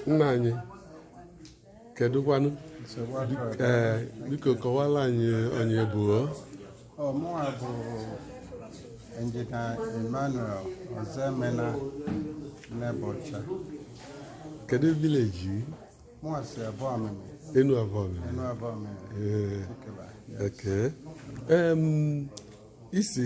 nna anyị kedụkwanụ ee biko kọwaara anyị onye ị bụ ọ mụwa bụ engineer emmanuel ozemena nebọcha kedu village mụwa si abụọ amịmị enu abụọ amịmị enu abụọ amịmị ee isi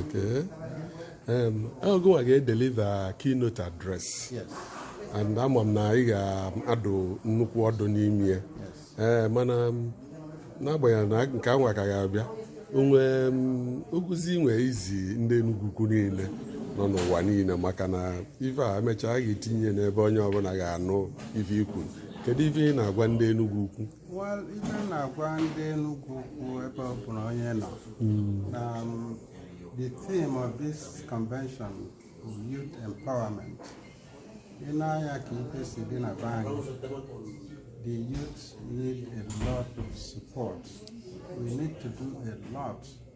Okay. Um, ọ gịwa ga-edeliver keynote address. Yes. And ama m na ị ga-adụ nnukwu ọdụ n'ime ya. Ee eh, mana um, n'agbanyeghị na nke anwa ka ga-abịa o nwe um, ozi ị nwe izi ndị Enugwu Ukwu niile nọ n'ụwa niile maka na ife a e mechaa a ga-etinye n'ebe onye ọbụla ga-anụ ife i kwuru kedu ife ị na-agwa ndị Enugwu Ukwu ife m na-agwa ndị Enugwu Ukwu ebe ọ bụla onye nọ hmm. na um, the theme of this convention is youth empowerment i nee anya ka ife si dị na be anyị the youth need a lot of support we need to do a lot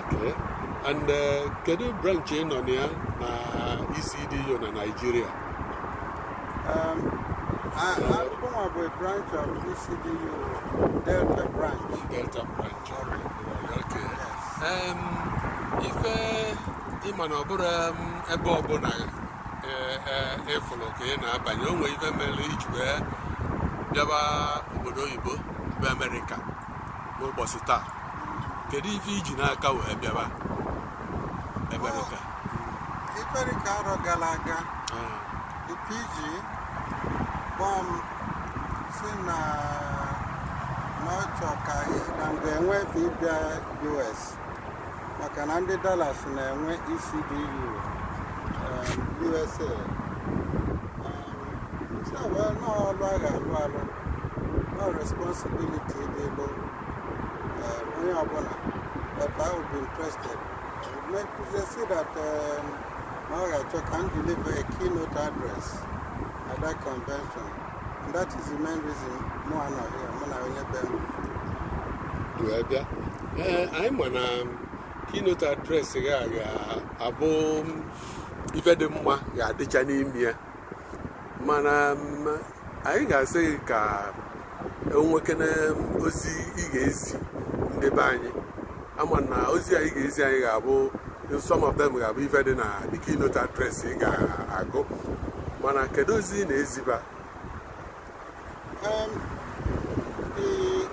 Okay. And uh, kedu branch ị nọ na ya na ECDU na Nigeria? Um, I- I- Mụnwa bụ a branch of ECDU Delta branch. Delta branch. Okay. Um, ife ị ma na ọ bụrụ um, ebe ọbụla eh, eh, ị fụrụ ka ị na-abanye o nwee ife mere i ji wee bịaba obodo oyibo bụ Amerịka n'ụbọchị taa kedu ife i ji n'aka wee bịaba amerịka amerịka arọ gara aga the pg kpọọ m si na na ọ chọ ka na m ga-enwe efe ịbịa us maka na ndị Dallas na-enwe ECDU USA si na well na ọlụ a ga-alụ alụ na ọ responsibility dịịlụ onye ọbụla but I would be interested make they see that um, na ọ ga-achọ ka m deliver a keynote address at that convention That is the main reason mụ anọ here, mụ na onye be m ji wee bịa. Ee, anyị ma na keynote address gị a ga-abụ ife dị mma ga-adịcha n'ime ya. Mana m, anyị ga-asị gị ka e nwekene ozi ị ga-ezi ndị be anyị ama na ozi anyị ga-ezi anyị ga-abụ some of them ga-abụ ife dị na the keynote address ị ga-agụ mana kedu ozi ị na-eziba Um, the,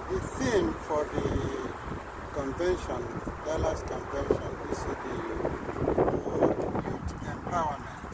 the theme for the convention, Dallas Convention, is the uh, youth empowerment.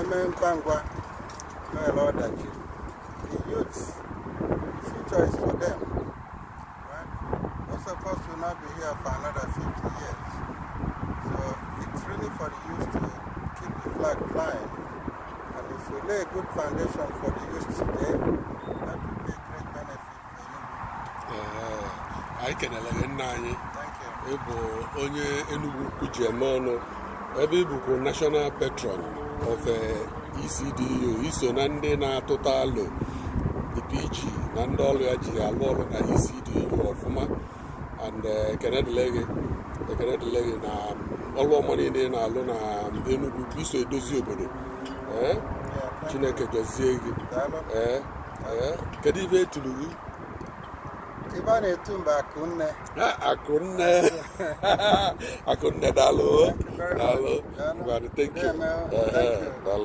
eme ngwa ngwa mere ọdachi the youths the future is for them right most of us will not be here for another 50 years so it's really for the youth to keep the flag flying and if we lay a good foundation for the youth today anyị kenele gị nna anyị ị bụ onye Enugwu Ukwu ji eme ọnụ ebe ị bụkwa national patron of ECDU i so na ndị na-atụta alo the PG na ndị ọrụ ya ji alụ ọrụ na ECDU ọfụma and ekene dịlị gị ekene dịlị gị na ọrụ ọma niile ị na-alụ na Enugwu Ukwu i so edozi obodo ee Chineke gọzie gị ee kedu ife etulu gị ife a na-etu m bụ Akụnne Akụnne Akụnne daalụ daalụ thank you daalụ